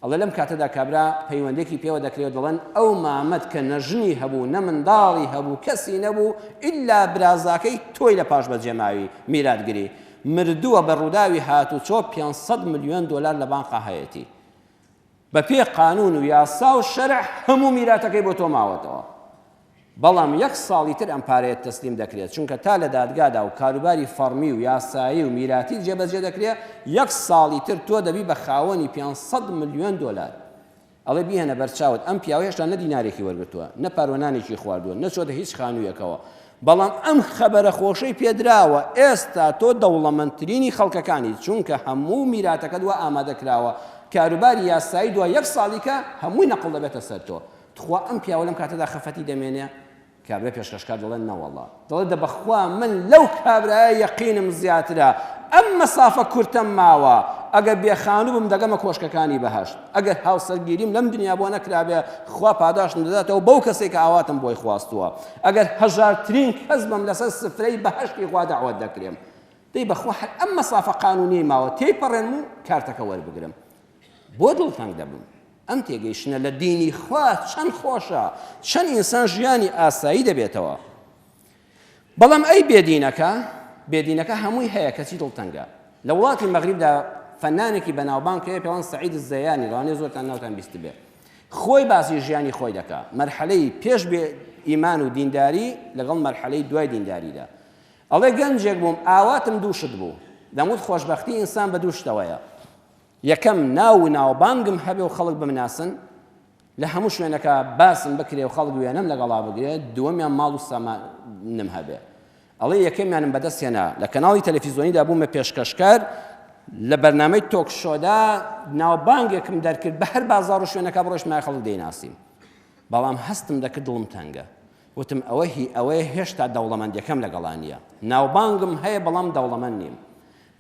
ئەڵێ لەم کاتەدا کابرا پەیوەندێکی پێوە دەکرێ و دەڵێن ئەو مامەت کە نە ژنی هەبوو نە منداڵی هەبوو کەسی نەبوو ئیلا برازاکەی تۆی لە پاش بەجێماوی، میراتگری، مردووە بە ڕووداوی هاتوچۆ پێنج سەد ملیۆن دۆلار لە بانقا هەیەتی بە پێی قانوون و یاسا و شەرع هەموو میراتەکەی بۆ تۆ ماوەتەوە. بەڵام یەک ساڵی تر ئەم پارەیە تەسلیم دەکرێت، چونکە تا لە دادگادا و کاروباری فەڕمی و یاسایی و میراتی جێبەجێ دەکرێت، یەک ساڵی تر تۆ دەبی بە خاوەنی پێنج سەد ملیۆن دۆلار. ئەڵێ بیهێنە بەرچاوت ئەم پیاوە هێشتا نە دینارێکی وەرگرتووە، نە پاروە نانێکی خواردووە، نەچۆتە هیچ خانوویەکەوە، بەڵام ئەم خەبەرە خۆشەی پێدراوە، ئێستا تۆ دەوڵەمەندترینی خەڵکەکانیت، چونکە هەموو میراتەکەت وا ئامادە کراوە، کاروباری یاسایی دوای یەک ساڵیکە هەمووی نەقڵ دەبێتە سەر تۆ. تخوا ئەم پیاوە لەم کاتەدا خەفەتی دەمێنێ؟ کابرای پێشکەشکار دەڵێ نەوەڵا دەڵێ دە بەخوا من لەو کابرایە یەقینم زیاترە ئەم مەسافە کورتەم ماوە ئەگەر بێ خانوو بم دەگەمە کۆشکەکانی بەهشت ئەگەر هاوسەرگیریم لەم دنیا بۆ نەکرابێ خوا پاداشتم دەداتەوە بەو کەسێک کە ئاواتم بۆی خواستووە ئەگەر هەژارترین کەس بم لەسەر سفرەی بەهشتی خوا داوات دەکرێم دەی بەخوا هەر ئەم مەسافە قانونی ماوە تێی پەڕێنم و کارتەکە وەربگرم بۆ دڵتەنگ دەبم ئەم تێگەیشتنە لە دینی خوا چەند خۆشە چەند ئینسان ژیانی ئاسایی دەبێتەوە بەڵام ئەی بێدینەکە بێدینەکە هەمووی هەیە کەچی دڵتەنگە لە وڵاتی مەغریبدا فەنانێکی بەناوبانگ کە پێوان سعید زەیانی ڕانێ زۆرتان ناوتان بیست بێ خۆی باسی ژیانی خۆی دەکا مەرحەلەی پێش بێ ئیمان و دینداری لەگەڵ مەرحەلەی دوای دینداریدا ئەڵێ گەنجێک بووم ئاواتم دووشت بوو دەموت خۆشببختی ئینسان بە دووشتەوەیە یەکەم، ناو و ناوبانگم هەبێ و خەڵک بمناسن، لە هەموو شوێنەکا باسم بکرێ و خەڵک وێنەم لەگەڵا بگرێ، دووەمیان ماڵ و سامانم هەبێ. ئەڵێ یەکەمیانم بەدەست هێنا، لە کەناڵی تەلەفیزۆنیدا بوومە پێشکەشکار، لە بەرنامەی تۆک شۆدا ناوبانگێکم دەرکرد، بە هەر بازاڕ و شوێنەکا بڕۆیشتمایە خەڵک دەیناسیم، بەڵام هەستم دەکرد دڵم تەنگە، وتم ئەوە هی ئەوەیە هێشتا دەوڵەمەندییەکەم لەگەڵا نییە، ناوبانگم هەیە بەڵام دەوڵەمەند نیم.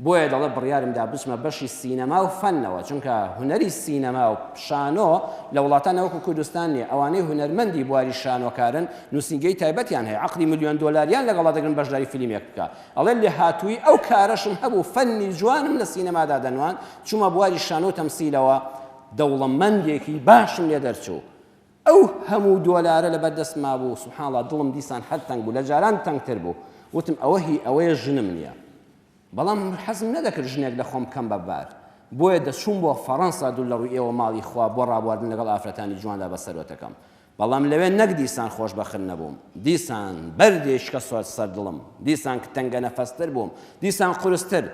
بۆیە دەڵێت بڕیارم دا بچمە بەشی سینەما و فەنەوە، چونکە هونەری سینەما و شانۆ لە وڵاتان نەوەکو کوردستان نیە، ئەوانەی هونەرمەندی بواری شانۆکارن نوسینگەی تایبەتیان هەیە عەقدی ملیۆن دۆلاریان لەگەڵا دەگرن بەشداری فلیمێک بکا، ئەڵێت لێهاتوویی ئەو کارەشم هەبوو فەنی جوانم لە سینەمادا دەنواند، چومە بواری شانۆ و تەمسیلەوە دەوڵەمەندێکی باشم لێ دەرچوو، ئەو هەموو دۆلارە لەبەر دەست مابوو، سبحان اللە دڵم دیسان هەر تەنگ بوو، لە جاران تەنگتر بوو، وتم ئەوە هی ئەوەیە ژنم نییە، بەڵام حەزم نەدەکرد ژنێک لە خۆم بکەم بە بار، بۆیە دەچووم بۆ فەڕەنسا دوور لە ڕووی ئێوە ماڵی خوا بۆ ڕابواردن لەگەڵ ئافرەتانی جواندا بە سەروەتەکەم، بەڵام لەوێ نەک دیسان خۆشبەخت نەبووم، دیسان بەردێ شکە سەر دڵم، دیسان تەنگەنەفەستر بووم، دیسان قورستر،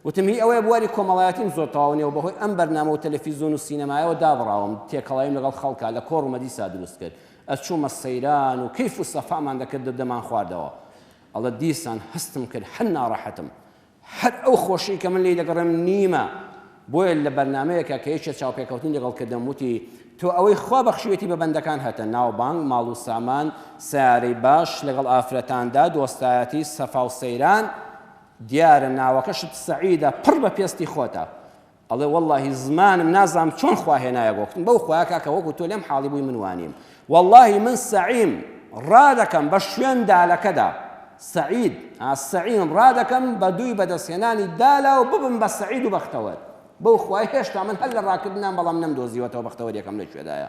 وتم هی ئەوەیە بواری کۆمەڵایەتیم زۆر تەواو نیە و بەهۆی ئەم بەرنامە و تەلەفیزۆن و سینەمایەوە دابڕاوم، تێکەڵاویم لەگەڵ خەڵکا، لە کۆڕ و مەدیسا دروست کرد، ئەچوومە سەیران و کەیف و سەفامان دەکردو دەمانخواردەوە. ئەڵێت دیسان هەستم کرد هەر ناڕەحەتم. هەر ئەو خۆشیی کە من لێی دەگەڕێم نیمە. بۆیە لە بەرنامەیەکا کە یەکێ چاوپێکەوتنی لەگەڵ کردم وتی تۆ ئەوەی خوا بەخشیوێتی بە بەندەکان هەتە، ناوبانگ، ماڵ و سامان، سەیارەی باش، لەگەڵ ئافرەتاندا، دۆستایەتی، سەفا و سەیران، دیارە ناوەکەشت سەعیدە پڕ بە پێستی خۆتە ئەڵێ واللهی زمانم نازام چۆن خوا هێنایە بۆکتن بەو خوا کاکە وەکو تۆ لەم حاڵی بووی من وانیم واللهی من سەعیم ڕادەکەم بە شوێن دالەکەدا سعید سعیم ڕادەکەم بە دووی بەدەستهێنانی دالا و ببم بە سعید و بەختەوەر بەو خوای هێشتا من هەر لە ڕاکردنان بەڵام نەمدۆزیوەتەوە بەختەوەریەکەم لەکوێدایە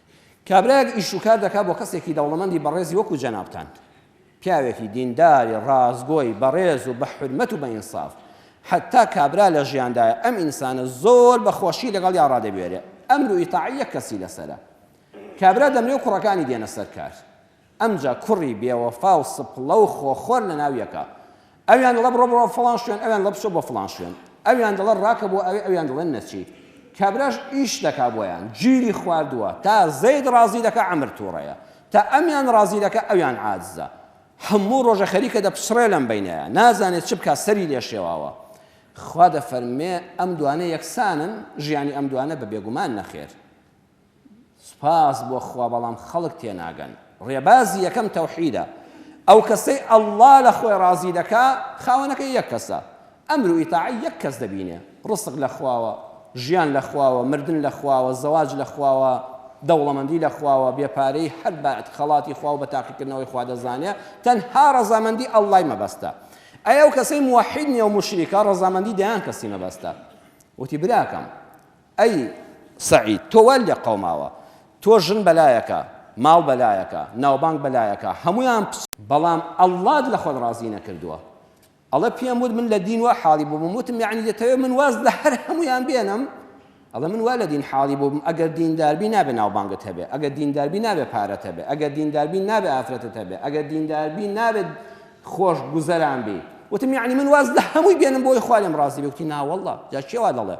کابرایەک ئیش و کار دەکات بۆ کەسێکی دەوڵەمەندی بەڕێزی وەکو جەنابتان. پیاوێکی دینداری ڕاستگۆی بەڕێز و بە حورمەت و بە ئینساف. حەتتا کابرا لە ژیاندایە ئەم ئینسانە زۆر بە خۆشی لەگەڵیا ڕادەبوێرێ. ئەمر و ئیتاعەی یەک کەسی لەسەرە. کابرا دەمرێ و کوڕەکانی دێنە سەر کار. ئەمجا کوڕی بێوەفا و سپڵە و خۆخۆر لە ناو یەکە. ئەویان دەڵێ بڕۆ بڕۆ فڵان شوێن، ئەویان دەڵێ بچۆ بۆ فڵان شوێن. ئەویان دەڵێ ڕاکە بۆ ئەوێ، ئەویان دەڵێن نەچیت. کابراش ئیش دەکا بۆیان. گیری خواردووە. تا زەید ڕازی دەکا عەمر تووڕەیە. تا ئەمیان ڕازی دەکا ئەویان عاجزە. هەموو ڕۆژە خەریکە دەپچڕێ لەم بەینەیا. نازانێ چ بکا سەری لێ شێواوە. خوا دەفەرموێ ئەم دوانە یەکسانن؟ ژیانی ئەم دوانە بە بێگومان نەخێر. سوپاس بۆ خوا بەڵام خەڵک تێناگەن ڕێبازی یەکەم تەوحیدە ئەوکەسەی اللە لەخۆی ڕازی دەکا خاوەنەکەی یەک کەسە ئەمر و ئیتاعەی یەک کەس دەبینێ ڕزق لەخواوە ژیان لەخواوە مردن لەخواوە زەواج لەخواوە دەوڵەمەندی لەخواوە بێ پارەی هەر بە خەڵاتی خواو بە تاقیکردنەوەی خوا دەزانێ تەنها ڕەزامەندی اللە مەبەستە ئەی ئەوکەسەی موحید نیەو موشریکە ڕەزامەندی دەیان کەسی مەبەستە وتی براکەم ئەی سەعید تۆ وات لێ قەوماوە تۆ ژن بەلایەکە ماڵ بەلایەکە ناوبانگ بەلایەکە هەموویان بەڵام اللەت لە خۆت ڕازی نەکردووە ئەڵێ پێم وت من لە دین وا حاڵی بووبم وتم یەعنی دەتەوێ من واز لە هەر هەموویان بێنم ئەڵێ من وا لە دین حاڵی بووبم ئەگەر دینداربی نابێ ناوبانگت هەبێ ئەگەر دینداربی نابێ پارەت هەبێ ئەگەر دینداربی نابێ ئافرەتت هەبێ ئەگەر دینداربی نابێت خۆش گوزەران بی وتم یەعنی من واز لە هەمووی بێنم بۆی خوا لێم ڕازی بێ وتی ناوەڵڵا جا کێ وا دەڵێ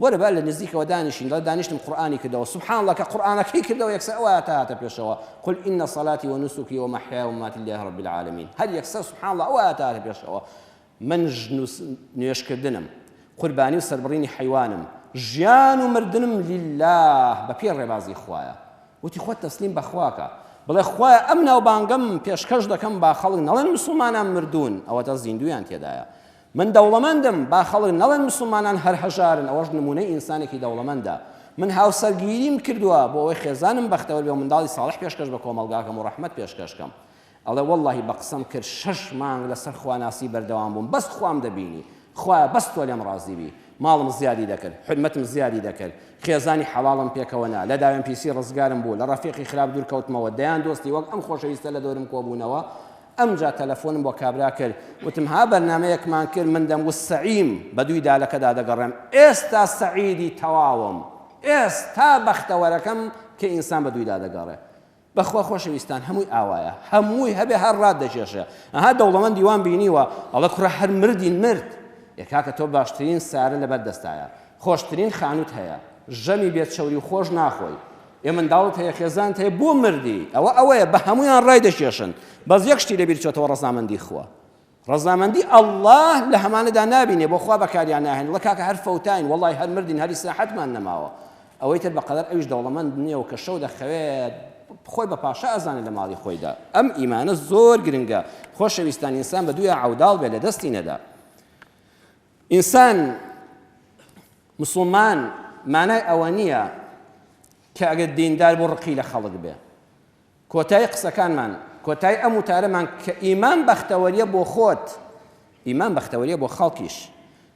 وەرە با لە نزیکەوە دانیشین دەڵێت دانیشتم قورئانی کردەوە سبحان اللە کە قورئانەکەی کردەوە یەکسەر ئەو ئایەتە هاتە پێشەوە قل ان صلاتی ونسکی ومحیای ومماتی للە رب العالمین هەر یەکسەر سبحان اللە ئەو ئایەتە هاتە پێشەوە من نوێژ کردنم قوربانی و سەربڕینی حیوانم ژیان و مردنم للە بە پێ ڕێبازی خوایە وتی خۆت تەسلیم بەخواکە بڵێ خوایە ئەم ناوبانگەم پێشکەش دەکەم با خەڵک نەڵێن مسلمانان مردوون ئەوەتا زیندویان تێدایە من دەوڵەمەندم، با خەڵک نەڵێن موسڵمانان هەر هەژارن، ئەوەش نموونەی ئینسانێکی دەوڵەمەندە. من هاوسەرگیریم کردووە بۆ ئەوەی خێزانم بەختەوەر بێ و منداڵی ساڵح پێشکەش بە کۆمەڵگاکەم و ڕەحمەت پێشکەش کەم. ئەڵێ وەڵڵاهی بە قسەم کرد شەش مانگ لەسەر خواناسی بەردەوام بووم، بەس خوام دەبینی. خوایە بەس تۆ لێم ڕازی بی. ماڵم زیادی دەکرد، حورمەتم زیادی دەکرد. خێزانی حەڵاڵم پێکەوە نا، لە داوێن پیسی ڕزگارم بوو، لە ڕەفیقی خراپ دوور کەوتمەوە، دەیان دۆستی وەک ئەم خۆشەویستە لە دەورم کۆ بوونەوە، ئەمجا تەلەفۆنم بۆ کابرا کرد وتم ها بەرنامەیەکمان کرد من دەم وت سەعیم بەدووی دالەکەدا دەگەڕێم ئێستا سەعیدی تەواوم ئێستا بەختەوەرەکەم کە ئینسان بەدوویدا دەگەڕێ بەخوا خۆشەویستان هەمووی ئاوایە هەمووی هەبێ هەر ڕات دەکێشێ ئەها دەوڵەمەندی وام بینیوە ئەڵێ کوڕە هەر مردی مرد ئێ کاکە تۆ باشترین سارە لەبەر دەستایە خۆشترین خانوت هەیە ژەمی بێ چەوری و خۆش ناخۆی ئێ منداڵت هەیە خێزانت هەیە بۆ مردی ئەوە ئەوەیە بە هەمویان ڕای دەکێشن بەس یەک شتی لەبیر چۆتەوە ڕەزامەندی خوا ڕەزامەندی ئەلله لە هەمانەدا نابینێ بۆ خوا بەکاریان ناهێن وڵە کاکە هەر فەوتاین وڵی هەر مردین هەری ساحەتمان نەماوە ئەوەی تر بەقەدەر ئەویش دەوڵەمەند نییە و کە شەو دەخەوێت خۆی بە پاشا ئەزانێ لە ماڵی خۆیدا ئەم ئیمانە زۆر گرنگە خۆشەویستان ئینسان بە دویا عوداڵ بێ لە دەستی نەدا ئینسان مسوڵمان مانای ئەوە نییە کە ئەگەر دیندار بۆ ڕقی لە خەڵک بێ کۆتای قسەکانمان کۆتای ئەم وتارەمان کە ئیمان بەختەوەریە بۆ خۆت ئیمان بەختەوەریە بۆ خەڵکیش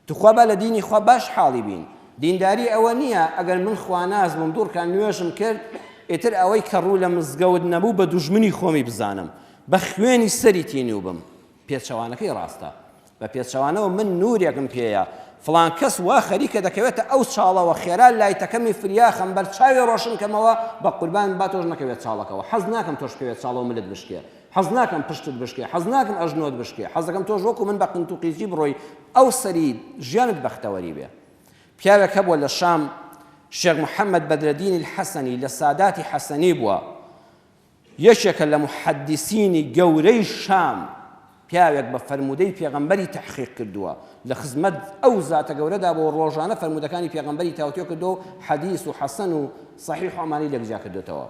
توخوا با لە دینی خوا باش حاڵی بین دینداری ئەوە نییە ئەگەر من خواناز بووم دوورکان نوێژم کرد ئیتر ئەوەی کە ڕوو لە مزگەوت نەبوو بە دوژمنی خۆمی بزانم بە خوێنی سەری تینوو بم پێچەوانەکەی ڕاستە بە پێچەوانەوە من نورێکم پێیە فڵان کەس وا خەریکە دەکەوێتە ئەو چاڵەوە خێرا لایتەکەمی فریاخەم بەر چاوی ڕۆشن کەمەوە بە قوربان با تۆش نەکەوێت چاڵەکەەوە حەز ناکەم تۆش بکەوێت چاڵەوە ملت بشکێ حەز ناکەم پشتت بشکێ حەز ناکەم ئەژنۆت بشکێ حەزەکەم تۆش وەکو من بە قنت و قیزی بڕۆی ئەو سەری ژیانت بەختەوەری بێ پیاوێک هەبووە لە شام شێخ محەممەد بەدرەدینی حەسەنی لە ساداتی حەسەنی بووە یەکێکە لە موحەدیسینی گەورەی شام، پیاوێک بە فەرموودەی پێغەمبەری تەحقیق کردووە، لە خزمەت ئەو زاتە گەورەدا بووە و ڕۆژانە فەرموودەکانی پێغەمبەری تاوتوێ کردووە و حەدیس و حەسەن و سەحیح و ئەمانەی لێکجیا کردۆتەوە.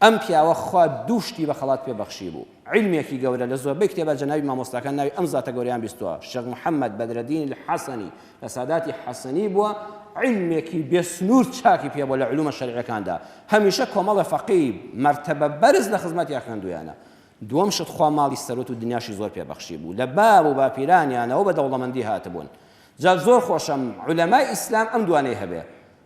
ئەم پیاوە خوا دوو شتی بە خەڵات پێ بەخشیبوو، عیلمێکی گەورە، لە زۆربەی کتێبا جەنابی مامۆستاکان ناوی ئەم زاتە گەورەیان بیستووە، شێخ محەمەد بەدرەدین الحەسەنی، ساداتی حەسەنی بووە عیلمێکی بێ سنوور چاکی پێ بووە لە علومە شەرعیەکاندا، هەمیشە کۆمەڵە فەقێی مەرتەبە بەرز لە خزمەتیا خوێندوویانە. دووەم شت خوا ماڵی سەروەت و دنیاشی زۆر پێ بەخشی بوو، لە باو و باپیرانیانەوە بە دەوڵەمەندی هاتبوون. جا زۆر خۆشە عولەمای ئیسلام ئەم دوانەی هەبێ،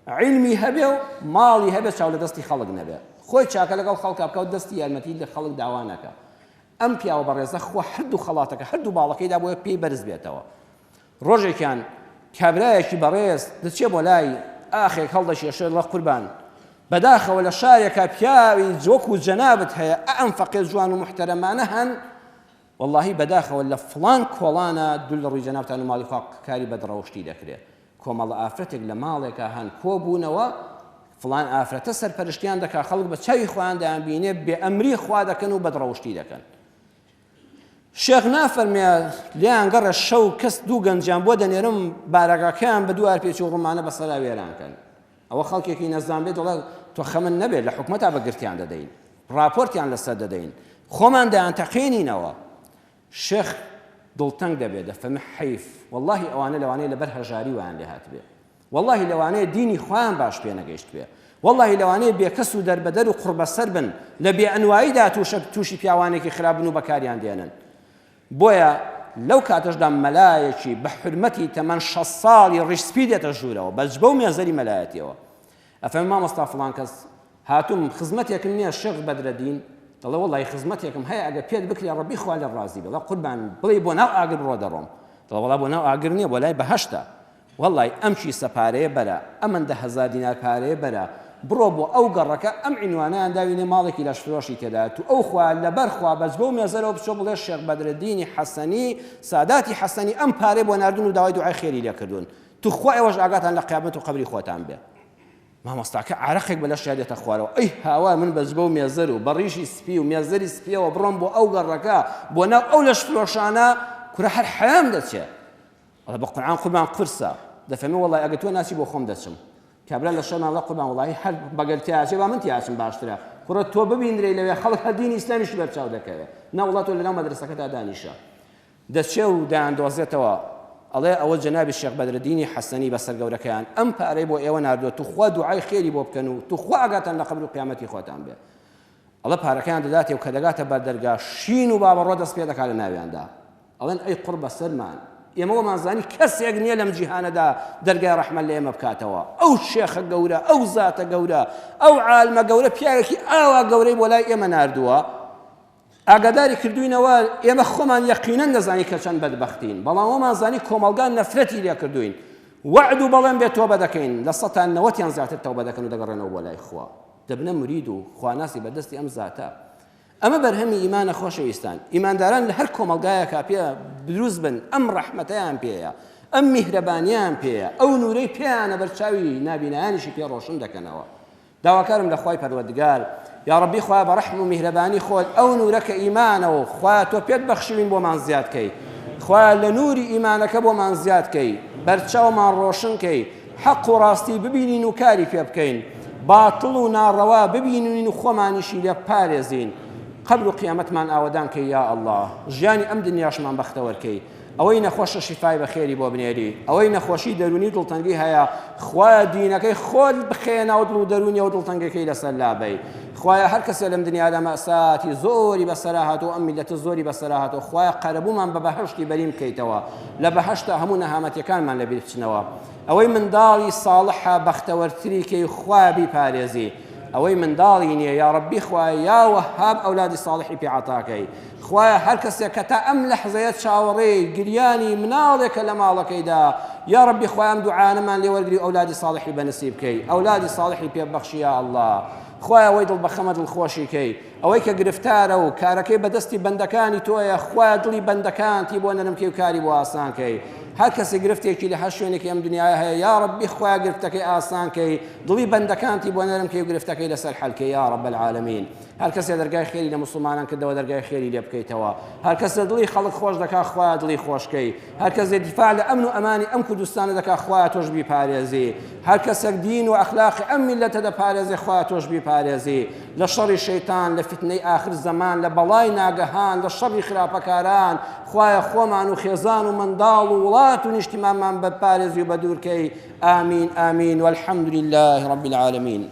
عیلمی هەبێ و ماڵی هەبێ چاو لە دەستی خەڵک نەبێ، خۆی چاکە لەگەڵ خەڵکا بکا و دەستی یارمەتیی لە خەڵک داوا نەکا. ئەم پیاوە بەڕێزە خوا هەردوو خەڵاتەکە، هەردوو باڵەکەی دابوویە پێی بەرز بێتەوە. ڕۆژێکیان کابرایەکی بەڕێز دەچێ بۆ لای ئاخێک هەڵدەکێشێ ڵە قوربان بەداخەوە لە شارێکا پیاوی جوەک و جەنابت هەیە ئە ئەم فەقێ جوان و محتەرەمانە هەن واللهی بەداخەوە لە فڵان کۆڵانە دوول لە ڕووی جەنابتان و ماڵی خوا کاری بەدڕەوشتی دەکرێت کۆمەڵە ئافرەتێک لە ماڵێکە هەن کۆبوونەوە فلان ئافرەتە سەرپەرشتیان دەکا خەڵک بە چاوی خۆیان دەیان بینێ بێ ئەمری خوا دەکەن و بەدڕەوشتی دەکەن شێخ نافەرمێ لیان گەڕێ شەو کەس دوو گەنجیان بۆ دەنێرم بارەگاکەیان بە دوار پێچ و ڕمانە بە سەرا وێرانکەن ئەوە خەڵکێکی نەزان بێت دەڵێت تۆ خەمن نەبێت لە حکومەتا بەگرتیان دەدەین راپۆرتیان لەسەر دەدەین خۆمان دەیان تەقێنینەوە شێخ دڵتەنگ دەبێت دەفەمە حەیف واللهی ئەوانە لەوانەیە لەبەر هەژاری ویان لێ هاتبێت وەڵاهی لەوانەیە دینی خۆیان باش پێ نەگەیشتبێ وەڵاهی لەوانەیە بێکەس و دەربەدەر و قوڕبەسەر بن لە بێئەنواییدا تووشە تووشی پیاوانێکی خراپ بن و بەکاریان دێنن بۆیە لەو کاتەشدا مەلایەکی بە حرمەتی تەمەن شەست ساڵی ڕیش سپی دێتە ژوورەوە بە جبە و مێزەری مەلایەتیەوە ئەفەرمێ مامۆستا فڵان کەس هاتووم خزمەتێکم نییە شێخ بەدرەدین دەڵێ وەڵی خزمەتێکم هەیە ئەگە پێت بکرێ ڕەبی خوا لە ڕازی بڵە قوربان بڵێ بۆ ناو ئاگر بڕۆ دەڕۆم دەڵێ وەڵا بۆ ناو ئاگر نییە بۆ لای بەهەشتە وەڵای ئەم کیسە پارەیە بەرە، ئەمەندە هەزار دینار پارەیە بەرە، بڕۆ بۆ ئەو گەڕەکە ئەم عینوانەیان داوینێ ماڵێکی لەشفرۆشی تێدایە توو خوا لەبەر خوا بەس بەو مێزەرەوە بچۆ بڵێ شێخ بەدرەدینی حەسەنی ساداتی حەسەنی ئەم پارەی بۆ ناردوون و داوای دوعای خێری لێ کردوون توو خوا ئێوەش ئاگاتان لە قیامەت و قەبری خۆتان بێ مامۆستاکە عارەقێک بە لەشیا دێتە خوارەوە ئەی هاوار من بەس بەو مێزەر و بە ڕیشی سپی و مێزەری سپیەوە بڕۆم بۆ ئەو گەڕەکە بۆ ناو ئەو لەشفرۆشانە کورە هەر حەیام دەچێ. ئەڵێ بە قورعان قوربان قورسە دەفەرمێ وەڵای ئەگەر تۆ ناچی بۆ خۆم دەچم کابرا لە شەرمان ڵە قوربان وڵی هەر بەگەر تیاچێ با من تیاچم باشترە کوڕە تۆ ببینرێ لەوێ خەڵک هەر دینی ئیسلامیش بەرچاو دەکەوێ نەوڵە تۆ لەناو مەدرسەکەدا دانیشە دەچێ و دایاندۆزێتەوە ئەڵێ ئەوە جەنابی شێخ بەدرەدینی حەسەنی بەسەر گەورەکەیان ئەم پارەی بۆ ئێوە ناردووە توخوا دوعای خێری بۆ بکەن و توخوا ئاگاتان لە قبل و قیامەتی خۆتان بێ ئەڵە پارەکەیان دەداتێ و کە دەگاتە بەردەرگا شین و بابەڕۆ دەست پێ دەکات لە ناویاندا ئەڵێن ئەی قوڕ بەسەرمان ئێمە وەمان زانی کەسێک نیە لەم جیهانەدا دەرگای ڕەحمەت لە ئێمە بکاتەوە ئەو شێخە گەورە ئەو زاتە گەورە ئەو عالمە گەورە پیاوێکی ئاوا گەورەی بۆ لای ئێمە ناردووە ئاگاداری کردوینەوە ئێمە خۆمان یەقینەن دەزانی کە چەند بەدبەختین بەڵام وەمان زانی کۆمەڵگا نەفرەتی لێ کردوین وعد و بەڵێن بێت تۆبە دەکەین لە سەتان نەوەتیان زیاتر تەوبە دەکەن و دەگەڕێنەوە بۆ لای خوا دەبنە مرید و خواناسی بەدەستی ئەم زاتە ئەمە بەرهەمی ئیمانە خۆشەویستان، ئیمانداران لە هەر کۆمەڵگایەکا پێ دروست بن ئەم ڕەحمەتەیان پێیە، ئەم میهرەبانیەیان پێیە، ئەو نورەی پێیانە بەر چاوی نابینایانیشی پێ ڕۆشن دەکەنەوە. داواکارم لە خوای پەروەردگار، یا ڕەبی خوایە بە ڕەحم و میهرەبانی خۆت ئەو نورە کە ئیمانە و خوایە تۆ پێت بەخشیوین بۆمان زیاد کەی، خوایە لە نوری ئیمانەکە بۆمان زیاد کەی، بەرچاومان ڕۆشن کەی، حەق و ڕاستی ببینین و کاری پێ بکەین، باتڵ و ناڕەوا ببینین و خۆمانیشی لێ بپارێزین، قەبر و قیامەتمان ئاوەدان کەی یا اللە، ژیانی ئەم دنیاشمان بەختەوەر کەی، ئەوەی نەخۆشە شیفای بە خێری بۆ بنێری، ئەوەی نەخۆشی دەروونی و دڵتەنگی هەیە خوایە دینەکەی خۆت بخەیە ناو دڵ و دەروونی و دڵتەنگەکەی لەسەر لابەی، خوایە هەر کەسێ لەم دنیادا مەئساتی زۆری بەسەرا هاتووە و ئەم میللەتە زۆری بەسەرا هاتووە خوایە قەرەبوومان بە بەهەشتی بەرین بکەیتەوە، لە بەهەشتا هەموو نەهامەتیەکانمان لە بیر بچنەوە ئەوەی منداڵی ساڵحە بەختەوەرتری کەی خوا بیپارێزی ئەوەی منداڵی نییە یا ڕبی خوای یا وەهاب ئەولادی ساڵحی پێعاتاکەی خوایە هەر کەسێک کە تا ئەم لە حزەیە چاوەڕێ گریانی مناڵێکە لە ماڵەکەیدا یا ڕبی خۆیان دوعاانەمان لێوەرگری ئەولادی ساڵحی بەنسی بکەی ئەولادی ساڵحی پێبەخشی یا الله خوایە وەی دڵ بەخەمە دڵ خۆشیکەی ئەوەی کە گرفتارە و کارەکەی بە دەستی بەندەکانی تۆیە، خوایە دڵی بەندەکانتی بۆ نەرم کەی و کاری بۆ ئاسان کەی. هەر کەسێک گرفتێکی لە هەر شوێنێکی ئەم دنیایە هەیە، یا ڕەببی خوایە گرفتەکەی ئاسان کەی، دڵی بەندەکانتی بۆ نەرم کەی و گرفتەکەی لەسەر حەل کەی یا ڕەب العالمین. هەر کەسێ دەرگای خێری لە موسڵمانان کردەوە دەرگای خێری لێ بکەیتەوە. هەر کەسێ دڵی خەڵک خۆش دەکا خوایە دڵی خۆش کەی. هەر کەسێ دیفاع لە ئەمن و ئەمانی ئەم کوردستانە دەکا خوایە تۆش بیپارێزی هەر کەسێک دین و ئەخلاقی ئەم میلەتە دەپارێزێ خوا تۆش بیپارێزی لە شەڕی شەیتان لە فیتنەی ئاخر زەمان لە بەڵای ناگەهان لە شەڕی خراپەکاران خوایە خۆمان و خێزان و منداڵ و وڵات و نیشتیمانمان بەپارێزی و بەدوورکەی ئامین ئامین والحمد لله رب العالمین